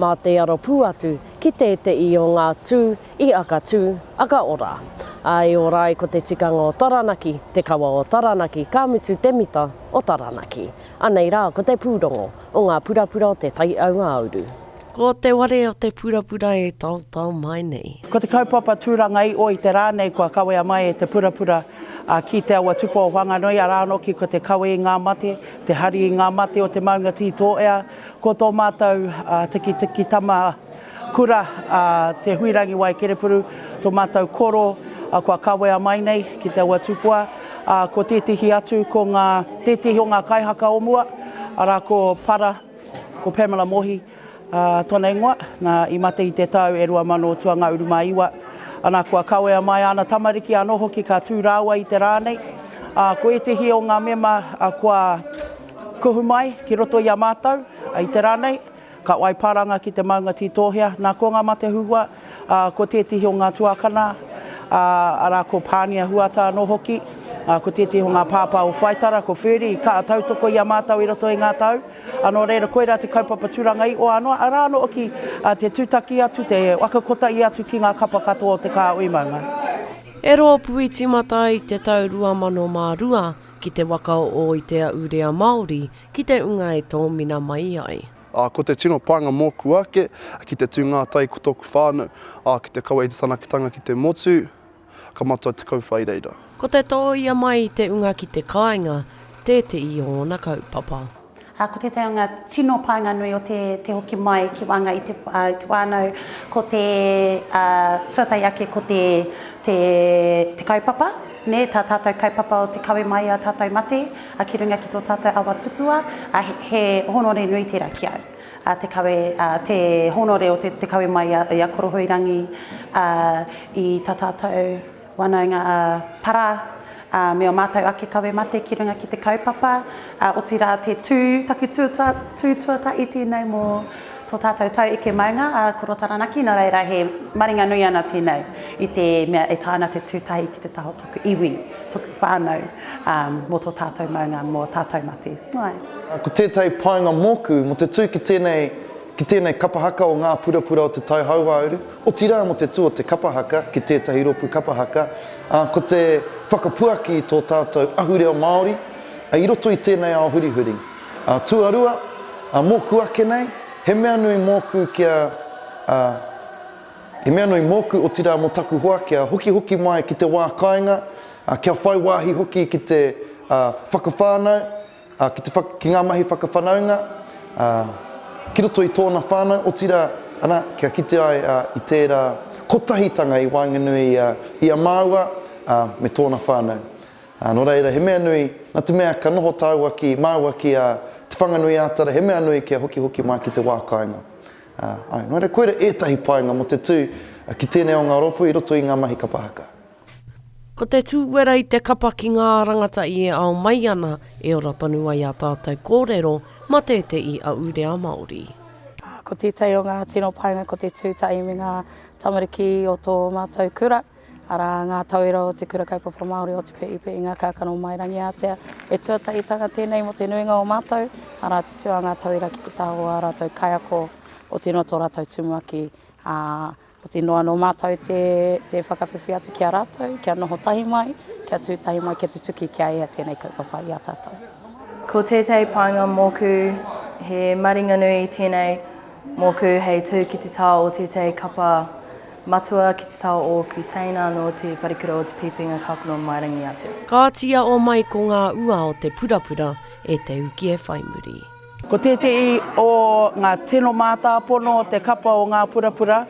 Mā te aro pū atu ki tēteʻi o ngā tū i aka tū, aka ora. Ā, e ora ai ko te tikanga o Taranaki, te kawa o Taranaki, ka mutu te mita o Taranaki. Anei rā ko te pūrongo o ngā purapura o Te Tai Aua-uru. Ko te ware o te purapura e taotao mai nei. Ko te kaupapa tūranga i o i te rā nei kua kawea mai e te purapura a Ki te Awa Tupa o Whanganui, arā noki ko te kawe i ngā mate, te hari i ngā mate o te maunga Tī Tōea, Ko tō mātou tikitiki tama kura a Te Huirangi Waekerepuru, tō mātou koro kua kawea mai nei ki te awa tupua, ā, ko tētehi atu, ko ngā, tētehi o ngā kaihaka o mua, arā ko Para, ko Pamela Mohi, ā, tōna ingoa, nā, i mate i te tau e rua mano tua ngā uru mā iwa. Anā, kua kawea mai āna tamariki anō hoki ka tū rāua i te rā nei. Ā, ko ētehi o ngā mema kua. Kuhu mai ki roto i a mātou, i te rā nei, ka wai paranga ki te maunga tītōhea, nā ko ngā mate huhua, ā, ko tētehi o ngā tuākana, ā, arā, ko Pānia Huata anō hoki, ā, ko tētehi o ngā pāpā o Whaitara, ko Ferdy, ka tautoko i a mātou i roto i ngā tau, ā, nō reira, koirā te kaupapa tūranga i oa noa, arā noa hoki, ā, te tūtaki atu, te waka kotahi atu ki ngā kapa katoa o te kāhui maunga. E rōpū i tīmata ai i te tau 2002, Ki te waka o Ōiteaurea Māori, ki te unga e tōmina mai ai. Ā, ko te tino pānga mōku ake, ki te tū ngātai ko tōku whānau, ā, ki te kaua i te tanakitanga ki te motu, ka matua te kauwhai reira. Ko te tōia mai i te unga ki te kāinga, tētehi o ōna kaupapa. Ā, ko tētahi o ngā tino pānga nui o te hoki mai ki waenga i te whānau, ko te tuatahi ake ko te kaupapa, tā tātou kaupapa o te kawe mai i ā tātou mate ki runga ki tō tātou awa tupua, he hōnore nui tērā ki au, te kawe, te hōnore o te kawe mai i a Korohuirangi i tā tātou. whanaunga ā-para, ā, me ō mātou ake kawe mate ki runga ki te kaupapa, ā, otirā te tū, taku tū tū tuatahi tēnei mō tō tātou tau eke maunga, ā, ko Rota Ranaki, nō reira he maringa nui ana tēnei i te mea e taea ana te tū tahi ki te taha o tōku iwi, tōku whānau, ā, mō tō tātou maunga, mō tātou mate. Ko tētahi painga mōku, mō te tū ki tēnei. Ki tēnei kapa haka o ngā purapura o Te Tai Hauāuru, otirā mō te tū o te kapa haka ki tētahi rōpū kapa haka, ā, ko te whakapuaki i tō tātou ahurea Māori i roto i tēnei ao hurihuri. Ā, tuarua, ā, mōku ake nei, he mea nui mōku kia, ā, he mea nui mōku, otirā mō taku hoa kia hokihoki mai ki te wā kāinga, ā, kia whai wāhi hoki ki te, ā, whakawhānau, Ā, ki te whak, ki ngā mahi whakawhanaunga, ā, ki roto i tōna whānau, otirā, ana, kia kite ai, ā, i tērā kotahitanga i waenganui i a, i a māua, ā, me tōna whānau. Ā, nō reira, he mea nui, nā te mea ka noho tāua ki, māua ki, ā, Te Whanganui-ā-Tara, he mea nui kia hokihoki mai ki te wā kāinga. Ā, āe, nō reira, koira ētahi painga mō te tū ki tēnei o ngā rōpū i roto i ngā mahi kapa haka. Ko te tūwera i te kapa ki ngā rangata i e ao mai ana, e ora tonu ai a tātou kōrero ma tēteʻi aʻu rea Māori. Ko tētahi o ngā tino painga ko te tūtahi me ngā tamariki o tō mātou kura, arā, ngā tauira o Te Kura Kaupapa Māori o Te Peepe i Ngā Kākano o Mairangiātea. He tuatahitanga tēnei mō te nuinga o mātou, arā, te tū a ngā tauira ki te taha o ā rātou kaiako, otirā tō rātou tumuaki, ā, Ko te inoa anō mātou te whakawhiwhi atu ki a rātou, kia noho tahi mai, kia tū tahi mai, kia tutuki, kia ea tēnei kaupapa i a tātou. Ko tētahi painga mōku, he maringa nui tēnei mōku hei tū ki te tao o tētahi kapa matua ki te tao o ōku teina nō te wharekura o Te Pīpinga Kāpono mai rangi atu. Kāti i a o mai ko ngā ua o te purapura e te uki e whai muri. Ko tētehi o ngā tino mātāpono o te kapa o Ngā Purapura,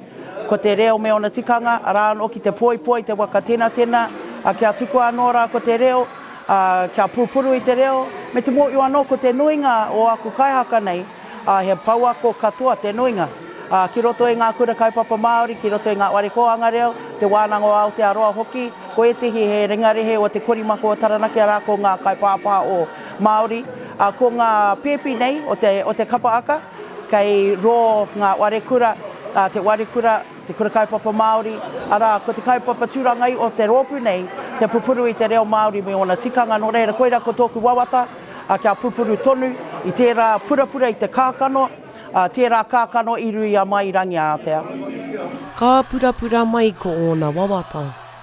ko te reo me ōna tikanga, arā anō ki te poipoi, te wakatenatena, ā, kia tukua anō rā ko te reo, ā, kia pupuru i te reo, me te mōhio anō ko te nuinga o aku kaihaka nei, ā, he pouako katoa te nuinga, ā, ki roto i ngā Kura Kaupapa Māori, ki roto i ngā Whare Kōhanga Reo, Te Wānanga o Aotearoa hoki, ko ētehi he ringarehe o te korimako o Taranaki, arā, ko ngā kaipāpā o. Māori, ā, ko ngā pēpi nei o te, o te kapa aka, kei rō ngā ware kura, ā, te ware kura, te kura kaupapa Māori, arā, ko te kaupapa tūrangai o te rōpū nei, te pupuru i te reo Māori me ōna tikanga, nō reira, koirā ko tōku wawata, ā, kia pupuru tonu i tērā purapura, i te kākano, ā, tērā kākano i ruia mai i Rangiātea. Ka purapura mai ko ōna wawata.